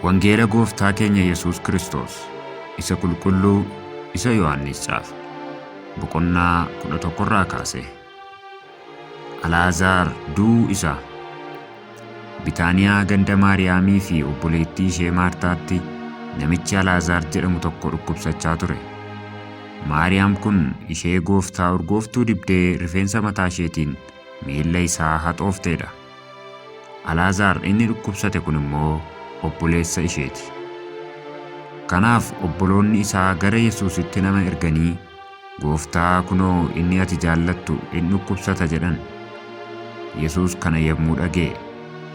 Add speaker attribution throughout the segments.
Speaker 1: Wangeela Gooftaa keenya Yesuus Kiristoos isa qulqulluu isa Yohaannis caafe boqonnaa 11 irraa kaasee Alaazaar du'uu isaa. Bitaaniyaa ganda Maariyaamii fi obboleettii ishee Maartaatti namichi Alaazaar jedhamu tokko dhukkubsachaa ture. Maariyaam kun ishee gooftaa urgooftuu dibdee rifeensa mataa isheetiin miilla isaa haxoofteedha. Alaazaar inni dhukkubsate kun immoo obboleessa isheeti. Kanaaf obboloonni isaa gara Yesuusitti nama erganii Gooftaa, kunoo inni ati jaallattu in dhukkubsata jedhan. Yesuus kana yommuu dhaga'e,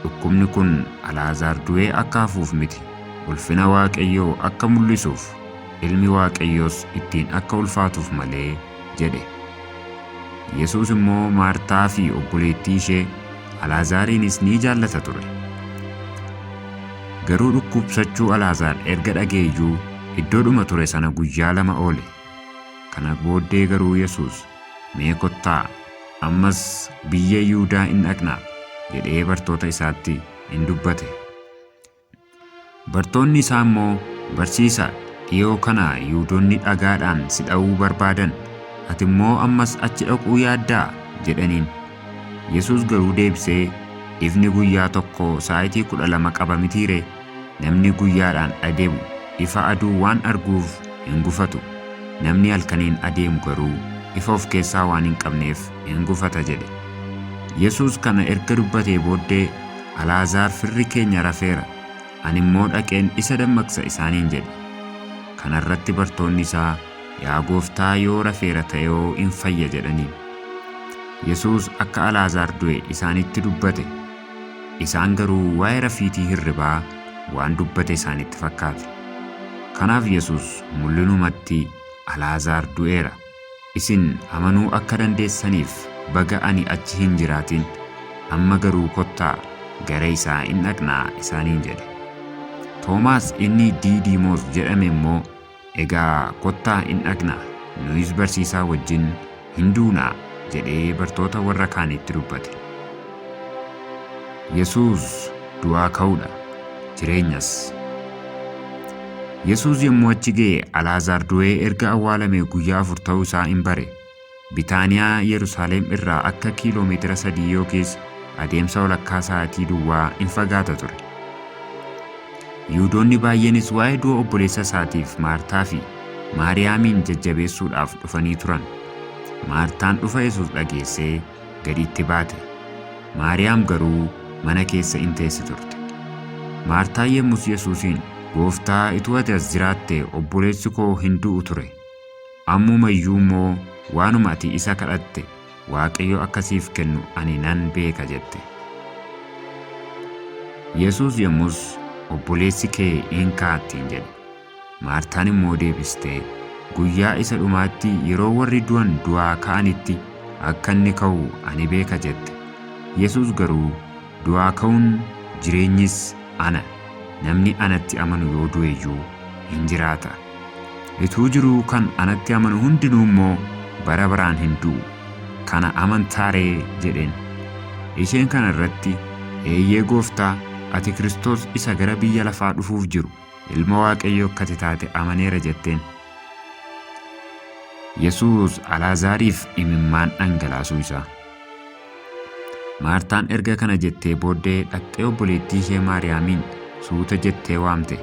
Speaker 1: dhukkubni kun Alaazaar du'ee akka hafuuf miti, ulfina Waaqayyoo akka mul'isuuf, ilmi Waaqayyoos ittiin akka ulfaatuuf malee jedhe. Yesuus immoo Maartaa fi obboleettii ishee, Alaazaariinis ni jaallata ture. Garuu dhukkubsachuu Alaazaar erga dhaga'eyyuu iddoodhuma ture sana guyyaa lama oole. Kana booddee garuu Yesuus, Mee kottaa, ammas biyya Yihudaa in dhaqnaa jedhee bartoota isaatti in dubbate. Bartoonni isaa immoo, Barsiisa, dhiyoo kana Yihudoonni dhagaadhaan si dha'uu barbaadan, ati immoo ammas achi dhaquu yaaddaa? jedhaniin. Yesuus garuu deebisee, Ifni guyyaa tokko saa'itii kudha lama qaba mitii ree? Namni guyyaadhaan adeemu ifa aduu waan arguuf hin gufatu, namni halkaniin adeemu garuu ifa of keessaa waan hin qabneef in gufata jedhe. Yesuus kana erga dubbatee booddee, Alaazaar firri keenya rafeera, ani immoo dhaqeen isa dammaqsa isaaniin jedhe. Kana irratti bartoonni isaa, Yaa Gooftaa yoo rafeera ta'eoo in fayya jedhaniin. Yesuus akka Alaazaar du'e isaanitti dubbate, isaan garuu waa'ee rafiitii hirribaa waan dubbate isaanitti fakkaate. Kanaaf Yesuus mul'inumatti Alaazaar du'eera, isin amanuu akka dandeessaniif baga ani achi hin jiraatin, amma garuu kottaa gara isaa in dhaqnaa isaaniin jedhe. Toomaas inni Diidiimoos jedhame immoo Egaa kottaa in dhaqnaa, nuyis barsiisaa wajjin in duunaa jedhee bartoota warra kaaniitti dubbate. Yesuus du'aa ka'uu dha, jireenyas. Yesuus yommuu achi ga'e Alaazaar du'ee erga awwaalamee guyyaa afur ta'uu isaa in bare. Bitaaniyaa Yerusaalem irraa akka kiiloo meetira sadii yookiis adeemsa walakkaa sa'aatii duwwaa in fagaata ture. Yihudoonni baay'eenis waa'ee du'a obboleessa isaatiif Maartaa fi Maariyaamiin jajjabeessuudhaaf dhufanii turan. Maartaan dhufa Yesuus dhageessee gadi itti baate. Maariyaam garuu mana keessa in teessi turte. Maartaan yommus Yesuusiin, Gooftaa, utuu ati as jiraattee obboleessi koo hin du'u ture. Ammuma iyyuu immoo waanuma ati isa kadhatte Waaqayyo akka siif kennu ani nan beeka jette. Yesuus yommus obboleessi kee in ka'a ittiin jedhe. Maartaan immoo deebistee guyyaa isa dhumaatti yeroo warri du'an du'aa ka'anitti akka inni ka'u ani beeka jette. Yesuus garuu Du'aa ka'uun jireenyis ana, namni anatti amanu yoo du'e iyyuu in jiraata. Utuu jiruu kan anatti amanu hundinuu immoo bara baraan hin du'u. Kana amantaa ree? jedheen. Isheen kana irratti, Eeyyee Gooftaa, ati Kiristoos isa gara biyya lafaa dhufuuf jiru, Ilma Waaqayyoo akka ati taate amaneera jetteen. Yesuus Alaazaariif imimmaan dhangalaasuu isaa. Maartaan erga kana jettee booddee dhaqxee obboleettii ishee Maariyaamiin suuta jettee waamte.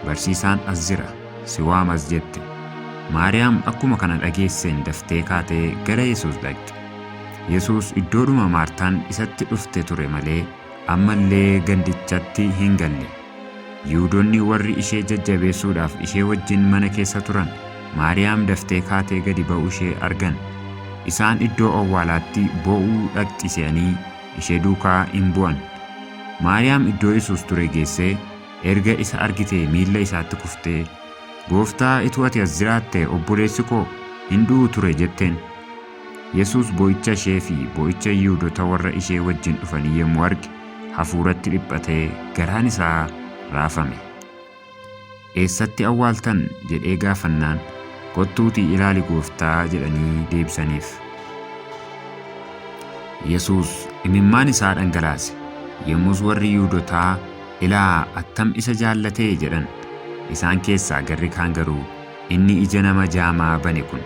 Speaker 1: Barsiisaan as jira, si waamas jette. Maariyaam akkuma kana dhageesseen daftee kaatee gara Yesuus dhaqxe. Yesuus iddoodhuma Maartaan isatti dhufte ture malee ammallee gandichatti hin galle. Yihuudonni warri ishee jajjabeessuudhaaf ishee wajjin mana keessa turan, Maariyaam daftee kaatee gadi ba'uushee argan. Isaan iddoo awwaalaatti boo'uu dhaqxi se'anii ishee duukaa in bu'an. Maariyaam iddoo Yesuus ture geessee, erga isa argitee miilla isaatti kuftee, Gooftaa, utuu ati as jiraattee obboleessi koo hin du'u ture jetteen. Yesuus boo'icha ishee fi boo'icha Yihuudota warra ishee wajjin dhufanii yommuu arge, hafuuratti dhiphatee garaan isaa raafame. Eessatti awwaaltan? jedhee gaafannaan, Kottuutii ilaali Gooftaa jedhanii deebisaniif. Yesuus imimmaan isaa dhangalaase. Yommus warri Yihuudotaa, Ilaa attam isa jaallate! jedhan. Isaan keessaa garri kaan garuu, Inni ija nama jaamaa bane kun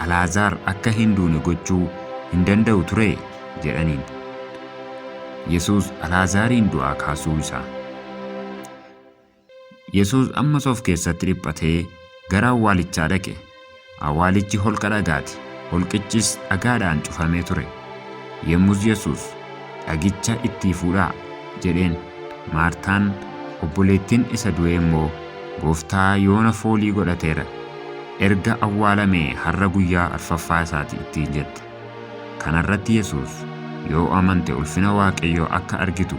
Speaker 1: Alaazaar akka hin duune gochuu hin danda'u turee? jedhaniin. Yesuus Alaazaariin du'aa kaasuu isaa. Yesuus ammas of keessatti dhiphatee gara awwaalichaa dhaqe. Awwaalichi holqa dhagaati, holqichis dhagaadhaan cufamee ture. Yommus Yesuus, Dhagicha ittii fuudhaa! jedheen. Maartaan obboleettiin isa du'ee immoo, Gooftaa yoona foolii godhateera, erga awwaalamee har'a guyyaa arfaffaa isaa ti ittiin jette. Kana irratti Yesuus, Yoo amante ulfina Waaqayyoo akka argitu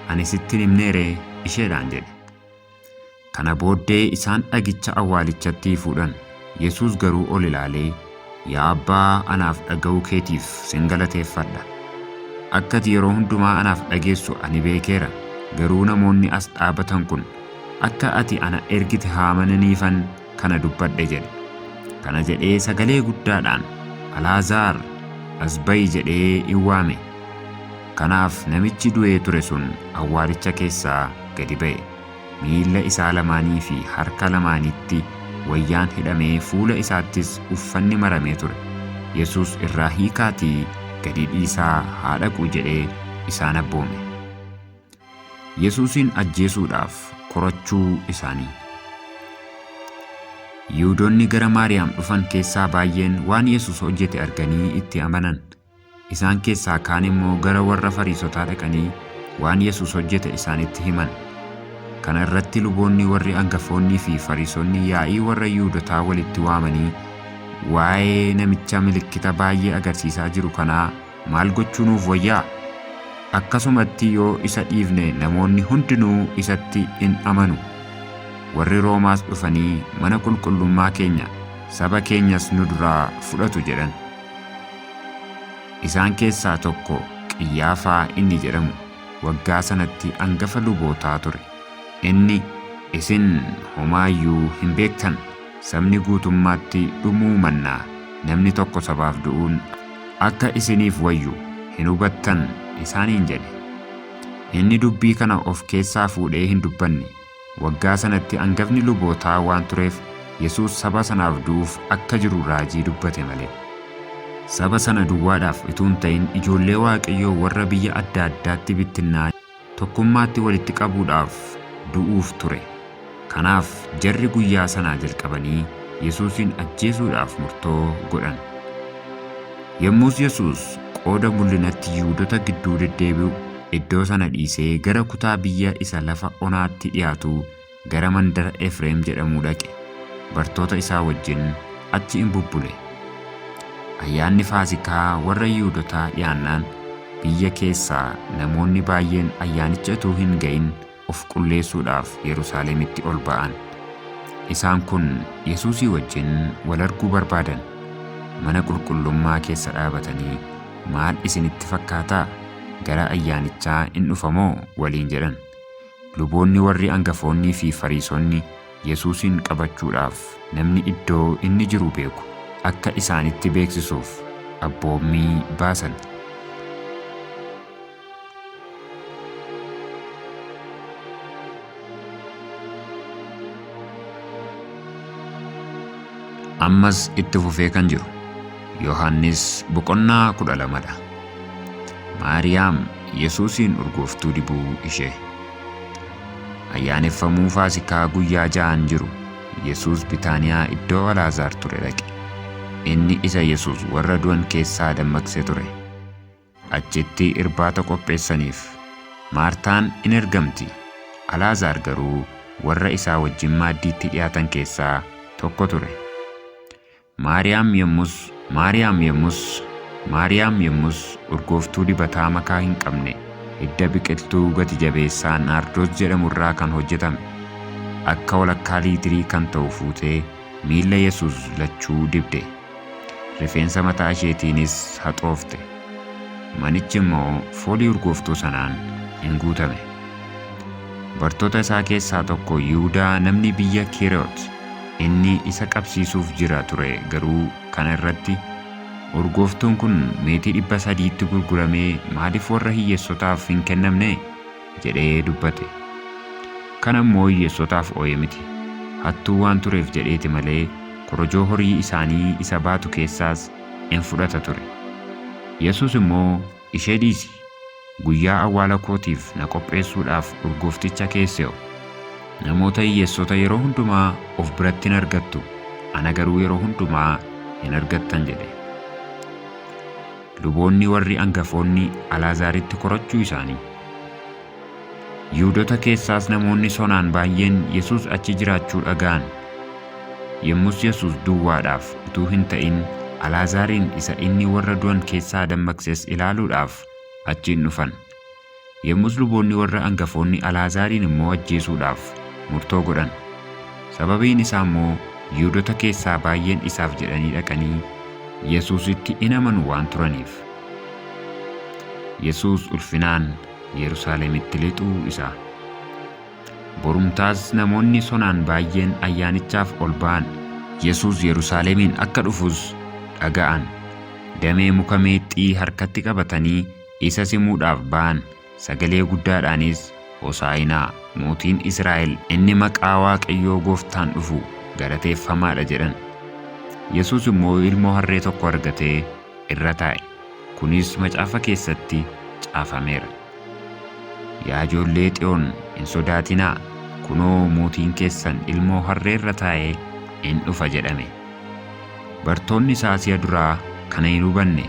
Speaker 1: ani sitti hin himnee ree? isheedhaan jedhe. Kana booddee isaan dhagicha awwaalichatti fuudhan. Yesuus garuu ol ilaalee, Yaa Abbaa, anaaf dhaga'uu keetiif sin galateeffadha. Akka ati yeroo hundumaa anaaf dhageessu ani beekeera, garuu namoonni as dhaabatan kun akka ati ana ergite haa amananiifan kana dubbadhe jedhe. Kana jedhee sagalee guddaadhaan, Alaazaar, as ba'i jedhee in waame. Kanaaf namichi du'ee ture sun awwaalicha keessaa gadi ba'e. Miilla isaa lamaanii fi harka lamaanitti wayyaan hidhamee fuula isaattis uffanni maramee ture. Yesuus irraa hiikaatii gadi dhiisaa haa dhaqu jedhee isaan abboome. Yesuusiin ajjeesuudhaaf korachuu isaanii. Yihudoonni gara Maariyaam dhufan keessaa baay'een waan Yesuus hojjete arganii itti amanan. Isaan keessaa kaan immoo gara warra Fariisotaa dhaqanii waan Yesuus hojjete isaanitti himan. Kana irratti luboonni warri angafoonnii fi Fariisonni yaa'ii warra Yihuudotaa walitti waamanii, Waa'ee namicha milikkita baay'ee agarsiisaa jiru kanaa maal gochuu nuuf wayya? Akkasumatti yoo isa dhiifne namoonni hundinuu isatti in amanu. Warri Roomaas dhufanii mana qulqullummaa keenya, saba keenyas nu duraa fudhatu jedhan. Isaan keessaa tokko Qiyyaafaa inni jedhamu waggaa sanatti angafa lubootaa ture. Inni, Isin homaa iyyuu hin beektan, sabni guutummaatti dhumuu mannaa namni tokko sabaaf du'uun akka isiniif wayyu hin hubattan isaaniin jedhe. Inni dubbii kana of keessaa fuudhee hin dubbanne, Waggaa sanatti angafni lubootaa waan tureef Yesuus saba sanaaf du'uuf akka jiru raajii dubbate malee. Saba sana duwwaadhaaf utuu hin ta'in ijoollee Waaqayyoo warra biyya adda addaatti bittinnaa'an tokkummaatti walitti qabuudhaaf du'uuf ture. Kanaaf jarri guyyaa sanaa jalqabanii Yesuusiin ajjeesuudhaaf murtoo godhan. Yommus Yesuus qooda mul'inatti Yihuudota gidduu deddeebi'u iddoo sana dhiisee gara kutaa biyya isa lafa onaatti dhi'aatu gara mandara Efreem jedhamuu dhaqe, bartoota isaa wajjin achi in bubbule. Ayyaanni Faasikaa warra Yihuudotaa dhi'aannaan, biyya keessaa namoonni baay'een ayyaanicha utuu hin ga'in of qulleessuudhaaf Yerusaalemitti ol ba'an. Isaan kun Yesuusii wajjin wal arguu barbaadan. Mana qulqullummaa keessa dhaabatanii, Maal isinitti fakkaataa? Gara ayyaanichaa in dhufa moo? waliin jedhan. Luboonni warri angafoonnii fi Fariisonni Yesuusiin qabachuudhaaf namni iddoo inni jiru beeku akka isaanitti beeksisuuf abboommii baasan. ammas itti fufee kan jiru yohannis boqonnaa kudha lamadha maariyaam yesuusiin urgooftuu dibuu ishee ayyaaneffamuu faasikaa guyyaa ja'an jiru yesuus bitaaniyaa iddoo alaazaar ture dhaqe inni isa yesuus warra du'an keessaa dammaqse ture Achitti irbaata qopheessaniif. Maartaan in ergamti, Alaazaar garuu warra isaa wajjin maaddiitti dhi'aatan keessaa tokko ture. Maariyaam yommus Maariyaam yommus Maariyaam yommus urgooftuu dibataa makaa hin qabne hidda biqiltuu gati jabeessaa naardoos jedhamu irraa kan hojjetame akka walakkaa liitirii kan ta'u fuutee miilla Yesuus lachuu dibde. Rifeensa mataa isheetiinis haxoofte. Manichi immoo foolii urgooftuu sanaan in guutame. Bartoota isaa keessaa tokko Yihudaa namni biyya Keeriyoot inni isa qabsiisuuf jira ture garuu kana irratti, Urgooftuun kun meetii dhibba sadiitti gurguramee maaliif warra hiyyeessotaaf hin kennamne? jedhee dubbate. Kana immoo hiyyeessotaaf ooye miti. Hattuu waan tureef jedheeti malee korojoo horii isaanii isa baatu keessaas in fudhata ture. Yesuus immoo, Ishee dhiisi! Guyyaa awwaala kootiif na qopheessuudhaaf urgoofticha keessee'o! Namoota hiyyeessota yeroo hundumaa of biratti in argattu, ana garuu yeroo hundumaa hin argattan jedhe. Luboonni warri angafoonni Alaazaaritti korachuu isaanii. Yihuudota keessaas namoonni sonaan baay'een Yesuus achi jiraachuu dhaga'an. Yommus Yesuus duwwaadhaaf utuu hin ta'in Alaazaariin isa inni warra du'an keessaa dammaqses ilaaluudhaaf achi in dhufan. Yommus luboonni warra angafoonni Alaazaariin immoo ajjeesuudhaaf murtoo godhan, sababiin isaa immoo Yihuudota keessaa baay'een isaaf jedhanii dhaqanii Yesuusitti in amanu waan turaniif. Yesuus ulfinaan Yerusaalemitti lixuu isaa. Borumtaas namoonni sonaan baay'een ayyaanichaaf ol ba'an. Yesuus Yerusaalemiin akka dhufus dhaga'an. Damee muka meexxii harkatti qabatanii Isa simuudhaaf ba'an, sagalee guddaadhaanis, Hosaa'inaa, Mootiin Israa'el inni maqaa Waaqayyoo Gooftaan dhufu galateeffamaa dha! jedhan. Yesuus immoo ilmoo harree tokko argatee irra taa'e, kunis macaafa keessatti caafameera. Yaa ijoollee Xiyoon, hin sodaatinaa! Kunoo, mootiin keessan ilmoo harree irra taa'ee in dhufa jedhame. Bartoonni isaa si'a duraa kana hin hubanne,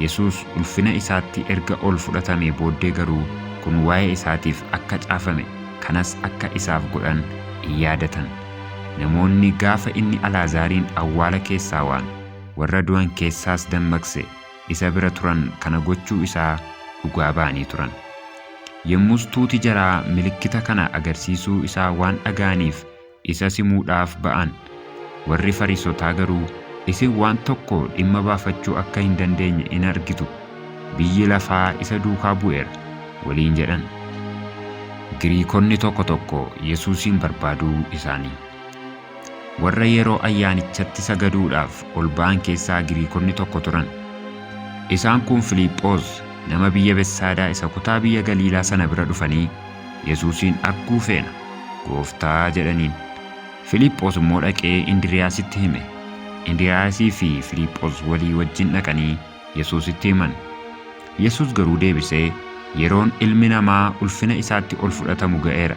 Speaker 1: Yesuus ulfina isaatti erga ol fudhatamee booddee garuu kun waa'ee isaatiif akka caafame, kanas akka isaaf godhan in yaadatan. Namoonni gaafa inni Alaazaariin awwaala keessaa waan, warra du'an keessaas dammaqse isa bira turan kana gochuu isaa dhugaa ba'anii turan. Yommus tuuti jaraa milikkita kana agarsiisuu isaa waan dhaga'aniif isa simuudhaaf ba'an. Warri Fariisotaa garuu, Isin waan tokko dhimma baafachuu akka hin dandeenye in argitu, biyyi lafaa isa duukaa bu'eera waliin jedhan. Giriikonni tokko tokko Yesuusiin barbaaduu isaanii. Warra yeroo ayyaanichatti sagaduudhaaf ol ba'an keessaa Giriikonni tokko turan. Isaan kun Filiiphoos nama biyya Betsaadaa isa kutaa biyya Galiilaa sana bira dhufanii, Yesuusiin arguu feena, Gooftaa jedhaniin. Filiiphoos immoo dhaqee Indiriyaasitti hime. Indiriyaasii fi Filiiphoos walii wajjin dhaqanii Yesuusitti himan. Yesuus garuu deebisee, Yeroon Ilmi Namaa ulfina isaatti ol fudhatamu ga'eera.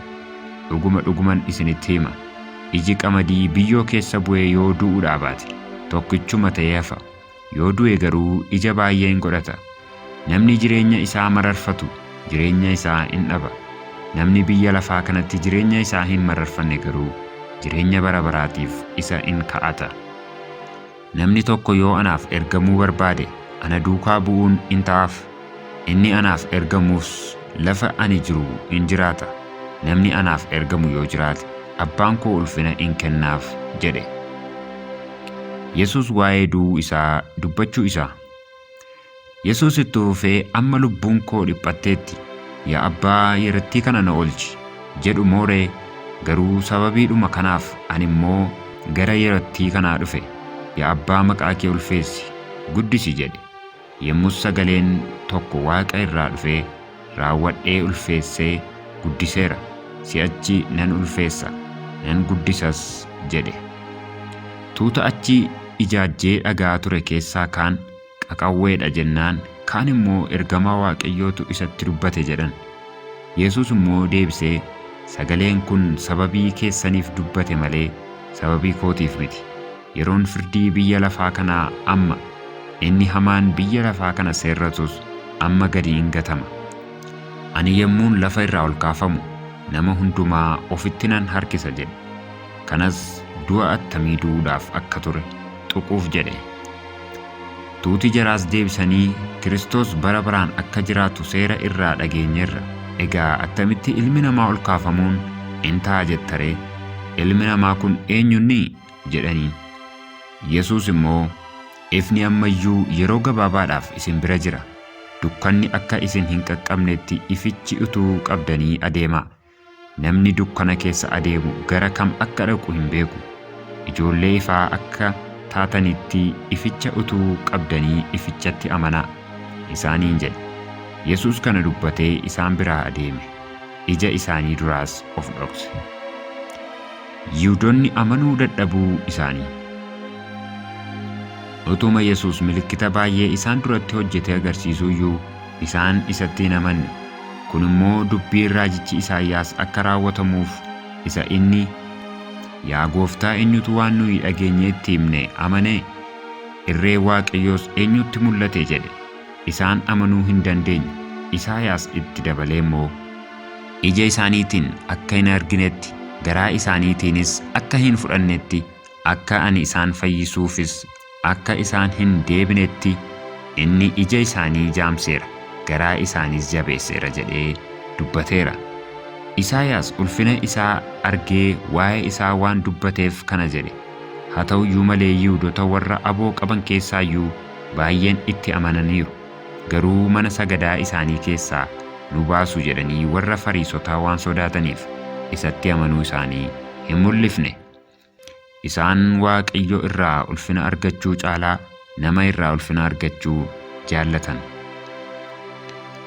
Speaker 1: Dhuguma dhuguman isinitti hima, iji qamadii biyyoo keessa bu'ee yoo du'uu dhaabaate, tokkichuma ta'ee hafa, Yoo du'e garuu ija baay'ee in godhata. Namni jireenya isaa mararfatu jireenya isaa in dhaba, namni biyya lafaa kanatti jireenya isaa hin mararfanne garuu jireenya bara baraatiif isa in ka'ata. Namni tokko yoo anaaf ergamuu barbaade, ana duukaa bu'uun in ta'aaf. Inni anaaf ergamus lafa ani jiru in jiraata, namni anaaf ergamu yoo jiraate, Abbaan koo ulfina in kennaaf jedhe. Yesuus waa'ee du'uu isaa dubbachuu isaa. Yesuus itti fufee amma lubbuun koo dhiphatteetti, yaa Abbaa yerattii kana na olchi jedhu moo ree? Garuu sababiidhuma kanaaf ani immoo gara yerattii kanaa dhufe, yaa Abbaa maqaa kee ulfeessi, guddisi jedhe. Yemmus sagaleen tokko waaqa irraa dhufee, Raawwadhee ulfeessee guddiseera, si'achi nan ulfeessa, nan guddisas jedhe. Tuuta achi ijaajjee dhaga'aa ture keessaa kaan, Qaqawwee dha jennaan, kaan immoo, Ergamaa Waaqayyootu isatti dubbate jedhan. Yesuus immoo deebisee, Sagaleen kun sababii keessaniif dubbate malee, sababii kootiif miti. Yeroon firdii biyya lafaa kanaa amma, inni hamaan biyya lafaa kana seerratus amma gadi in gatama. Ani yommuun lafa irraa ol kaafamu, nama hundumaa ofitti nan harkisa jedhe. Kanas du'a attamii du'uudhaaf akka ture tuquuf jedhe. Tuuti jaraas deebisanii, Kiristoos bara baraan akka jiraatu seera irraa dhageenyerra. Egaa attamitti ilmi namaa ol kaafamuun in ta'a jetta ree? Ilmi namaa kun eenyu inni? jedhaniin. Yesuus immoo, Ifni amma iyyuu yeroo gabaabaadhaaf isin bira jira, dukkanni akka isin hin qaqqabnetti ifichi utuu qabdanii adeemaa. Namni dukkana keessa adeemu gara kam akka dhaqu hin beeku. Ijoollee ifaa akka taatanitti ificha utuu qabdanii ifichatti amanaa isaaniin jedhe. Yesuus kana dubbatee isaan biraa adeeme, ija isaanii duraas of dhokse. Yihudoonni amanuu dadhabuu isaanii. Utuma Yesuus milikkita baay'ee isaan duratti hojjetee agarsiisuu iyyuu, isaan isatti hin amanne. Kun immoo dubbiin raajichi Isaayyaas akka raawwatamuuf isa inni, Yaa Gooftaa eenyutu waan nuyi dhageenye itti himne amane? Irreen Waaqayyoos eenyutti mul'ate? jedhe. Isaan amanuu hin dandeenye. Isaayaas itti dabalee immoo. Ija isaaniitiin akka hin arginetti, garaa isaaniitiinis akka hin fudhannetti, akka ani isaan fayyisuufis akka isaan hin deebinetti inni ija isaanii jaamseera, garaa isaaniis jabeesseera jedhee dubbateera. Isaayaas ulfina isaa argee waa'ee isaa waan dubbateef kana jedhe. Haa ta'u iyyuu malee Yihudota warra aboo qaban keessaa iyyuu baay'een itti amananiiru. Garuu mana sagadaa isaanii keessaa nu baasu jedhanii warra Fariisotaa waan sodaataniif isatti amanuu isaanii hin mul'ifne. Isaan Waaqayyo irraa ulfina argachuu caalaa nama irraa ulfina argachuu jaallatan.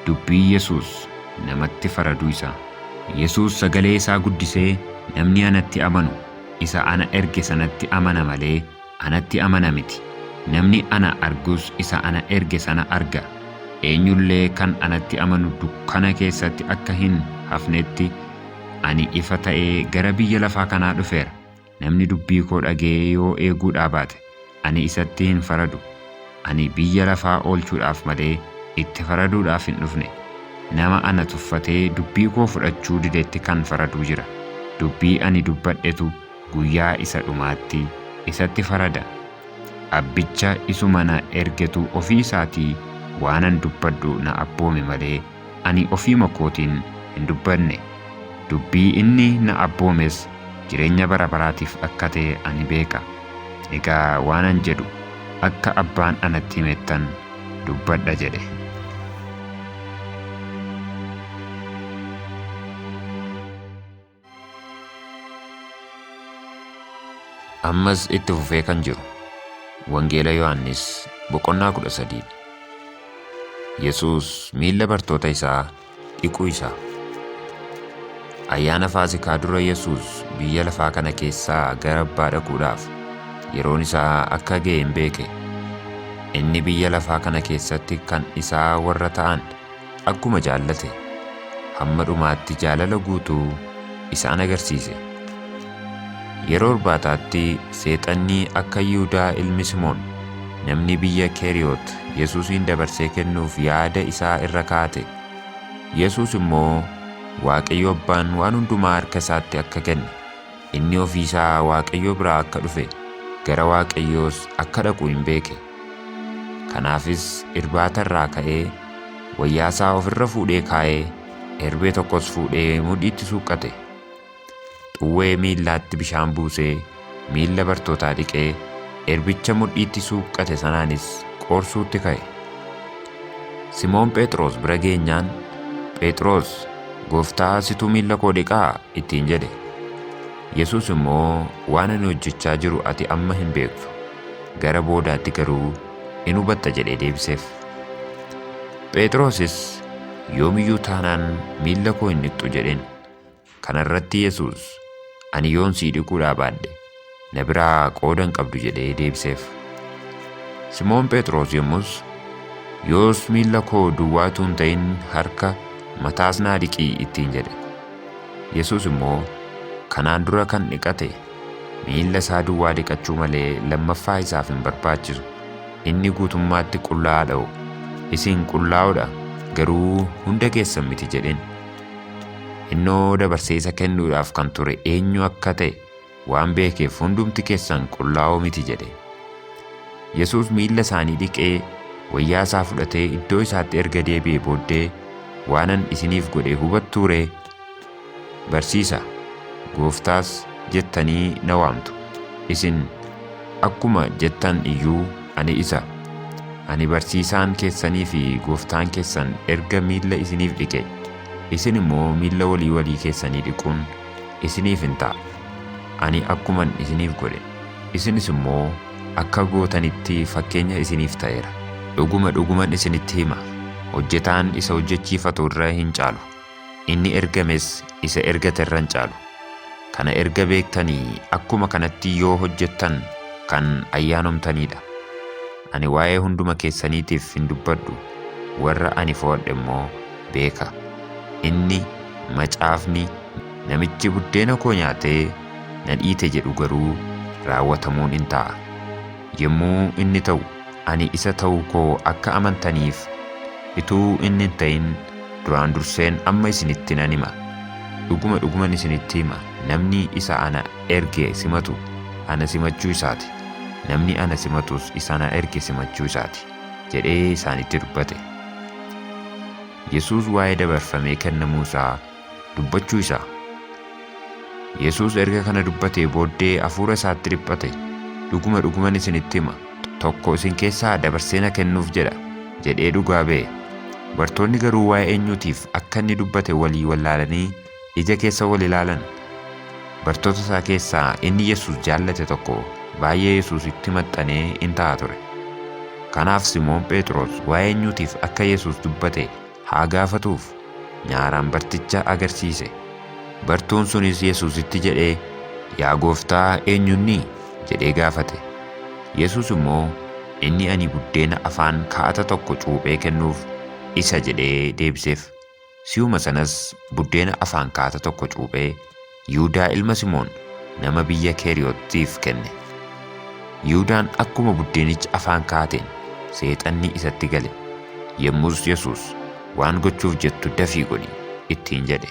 Speaker 1: Dubbii Yesuus namatti faraduu isaa. Yesuus sagalee isaa guddisee, Namni anatti amanu isa ana erge sanatti amana malee Anatti amana miti. Namni ana argus isa ana erge sana arga. Eenyu illee kan anatti amanu dukkana keessatti akka hin hafnetti, ani ifa ta'ee gara biyya lafaa kanaa dhufeera. Namni dubbii koo dhaga'ee yoo eeguudhaa baate, ani isatti hin faradu. Ani biyya lafaa oolchuudhaaf malee itti faraduudhaaf hin dhufne. Nama ana tuffatee dubbii koo fudhachuu didetti kan faradu jira. Dubbii ani dubbadhetu guyyaa isa dhumaatti isatti farada. Abbicha isuma na ergetu ofii isaatii waanan dubbadhu na abboome malee ani ofiima kootiin hin dubbanne. Dubbii inni na abboomes jireenya bara baraatiif akka ta'e ani beeka. Egaa waanan jedhu akka Abbaan anatti himettan dubbadha jedhe. Ammas itti fufee kan jiru Wangeela Yohaannis boqonnaa 13 dha. Yesuus miilla bartoota isaa dhiquu isaa. Ayyaana Faasikaa dura Yesuus biyya lafaa kana keessaa gara abbaa dhaquudhaaf yeroon isaa akka ga'e hin beeke. Inni biyya lafaa kana keessatti kan isaa warra ta'an Akkuma jaallate, hamma dhumaatti jaalala guutuu isaan agarsiise. Yeroo irbaataatti Seexanni akka Yihudaa ilmi Simoon namni biyya Keeriyoot Yesuusiin dabarsee kennuuf yaada isaa irra kaa'ate, Yesuus immoo Waaqayyo Abbaan waan hundumaa harka isaatti akka kenne, inni ofii isaa Waaqayyo biraa akka dhufe, gara Waaqayyoos akka dhaqu in beeke. Kanaafis irbaata irraa ka'ee wayyaa isaa of irra fuudhee kaa'ee erbee tokkos fuudhee mudhiitti suuqqate. Xuwwee miillaatti bishaan buusee miilla bartootaa dhiqee erbicha mudhiitti suuqqate sanaanis qoorsuutti ka'e. Simoon Pheexroos bira geenyaan Pheexroos Gooftaa situ miilla koo dhiqaa ittiin jedhe. Yesuus immoo, Waan ani hojjechaa jiru ati amma hin beektu, gara boodaatti garuu in hubatta jedhee deebiseef. Phexrosis, Yoom iyyuu taanaan miilla koo hin dhiqxu jedheen. Kana irratti Yesuus, Ani yoon sii dhiquudhaa baadhe, na biraa qooda hin qabdu jedhee deebiseef. Simoon Phexros yommus, Yoos miilla koo duwwaa utuu hin ta'in harka, mataas naa dhiqi ittiin jedhe. Yesuus immoo, Kanaan dura kan dhiqate, miilla isaa duwwaa dhiqachuu malee lammaffaa isaaf hin barbaachisu, inni guutummaatti qullaa'aa dha'o, isin qullaa'oo dha, garuu hunda keessan miti jedheen. Innoo dabarsee isa kennuudhaaf kan ture eenyu akka ta'e Waan beekeef hundumti keessan qullaa'oo miti jedhe. Yesuus miilla isaanii dhiqee, wayyaa isaa fudhatee iddoo isaatti erga deebi'ee booddee, Waanan isiniif godhe hubattuu ree? Barsiisa, Gooftaas jettanii na waamtu. Isin akkuma jettan iyyuu ani isa. Ani barsiisaan keessanii fi gooftaan keessan erga miilla isiniif dhiqe, isin immoo miilla walii walii keessanii dhiquun isiniif in ta'a. Ani akkuman isiniif godhe, isinis immoo akka gootanitti fakkeenya isiniif ta'eera. Dhuguma dhuguman isinitti hima, hojjetaan isa hojjechiifatu irra hin caalu, inni ergames isa ergate irra hin caalu. Kana erga beektanii akkuma kanatti yoo hojjettan kan ayyaanomtanii dha. Ani waa'ee hunduma keessaniitiif hin dubbadhu, warra ani fo'adhe immoo beeka. Inni, macaafni, Namichi buddeena koo nyaatee na dhiite jedhu garuu raawwatamuun in ta'a. Yommuu inni ta'u, ani isa ta'uu koo akka amantaniif, utuu inni hin ta'in duraan durseen amma isinitti nan hima. Dhuguma dhuguman isinitti hima, namni isa ana erge simatu, ana simachuu isaa ti. Namni ana simatus isa na erge simachuu isaati jedhee isaanitti dubbate. Yesuus waa'ee dabarfamee kennamuu isaa dubbachuu isaa. Yesuus erga kana dubbatee booddee hafuura isaatti dhiphate, dhuguma dhuguman isinitti hima, tokko isin keessaa dabarsee na kennuuf jedha jedhee dhugaa ba'e. Bartoonni garuu waa'ee eenyuutiif akka inni dubbate walii wallaalanii Ija keessa wal ilaalan. Bartoota isaa keessaa inni Yesuus jaallate tokko baay'ee Yesuusitti maxxanee in ta'a ture. Kanaaf Simoon Phexros waa'ee eenyuutiif akka Yesuus dubbate haa gaafatuuf nyaaraan barticha agarsiise. Bartuun sunis Yesuusitti jedhee, Yaa gooftaa eenyunni? jedhee gaafate. Yesuus immoo, Inni ani buddeena afaan kaa'ata tokko cuuphee kennuuf isa jedhee deebiseef. Si'uma sanas buddeena afaan kaata tokko cuuphee Yihudaa ilma Simoon nama biyya Keeriyotiif kenne. Yihudaan akkuma buddeenicha afaan kaateen Seexanni isatti gale, yommus Yesuus, Waan gochuuf jettu dafii godhi! ittiin jedhe.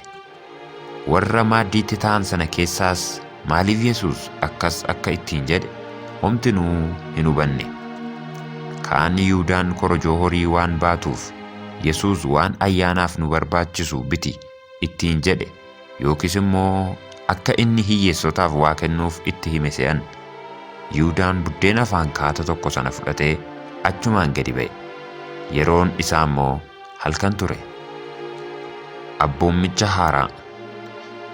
Speaker 1: Warra maaddiitti taa'an sana keessaas Maaliif Yesuus akkas akka ittiin jedhe homtinuu hin hubanne. Kaan Yihuudaan korojoo horii waan baatuuf Yesuus waan ayyaanaaf nu barbaachisu biti ittiin jedhe yookiis immoo akka inni hiyyeessotaaf waa kennuuf itti hime se'an. Yihuudaan buddeena afaan kaata tokko sana fudhatee achumaan gadi ba'e. Yeroon isaa immoo Halkan ture. Abboommicha haaraa.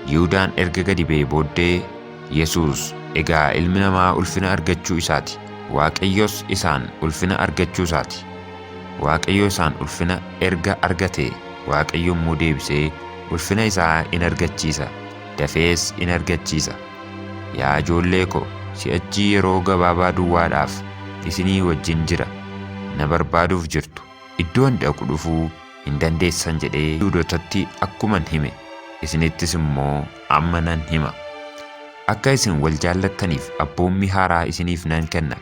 Speaker 1: Yihuudaan erga gadi ba'ee booddee Yesuus egaa ilmi namaa ulfina argachuu isaati, Waaqayyos isaan ulfina argachuu isaati. Waaqayyo isaan ulfina erga argatee Waaqayyo immoo deebisee ulfina isaa in argachiisa, dafees in argachiisa. Yaa ijoollee ko, si'achi yeroo gabaabaa duwwaadhaaf isinii wajjin jira, na barbaaduuf jirtu. Iddoo ani dhaqu dhufuu hin dandeessan jedhee Yihuudotatti akkuman hime, isinittis immoo amma nan hima. Akka isin wal jaallattaniif abboommii haaraa isiniif nan kenna,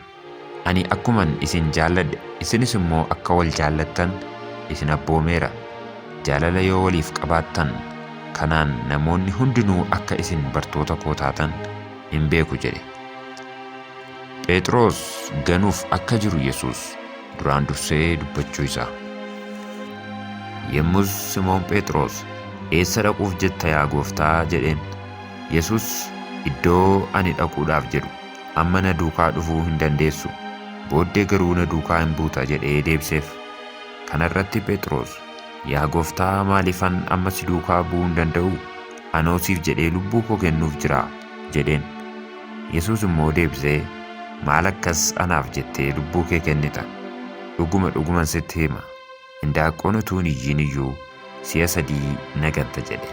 Speaker 1: ani akkuman isin jaalladhe isinis immoo akka wal jaallattan isin abboomeera. Jaalala yoo waliif qabaattan, kanaan namoonni hundinuu akka isin bartoota koo taatan in beeku jedhe. Phexros ganuuf akka jiru Yesus duraan dursee dubbachuu isaa. Yommus Simoon Phexros, Eessa dhaquuf jetta yaa gooftaa? jedheen. Yesus, Iddoo ani dhaquudhaaf jedhu amma na duukaa dhufuu hin dandeessu, booddee garuu na duukaa in buuta jedhee deebiseef. Kana irratti Phexros, Yaa gooftaa maaliifan amma si duukaa bu'uu hin danda'u? Anoo siif jedhee lubbuu koo kennuuf jira jedheen. Yesuus immoo deebisee, Maal akkas anaaf jettee lubbuu kee kennita? Dhuguma dhuguman sitti hima, hindaaqqoon utuu hin iyyiin iyyuu si'a sadii na ganta jedhe.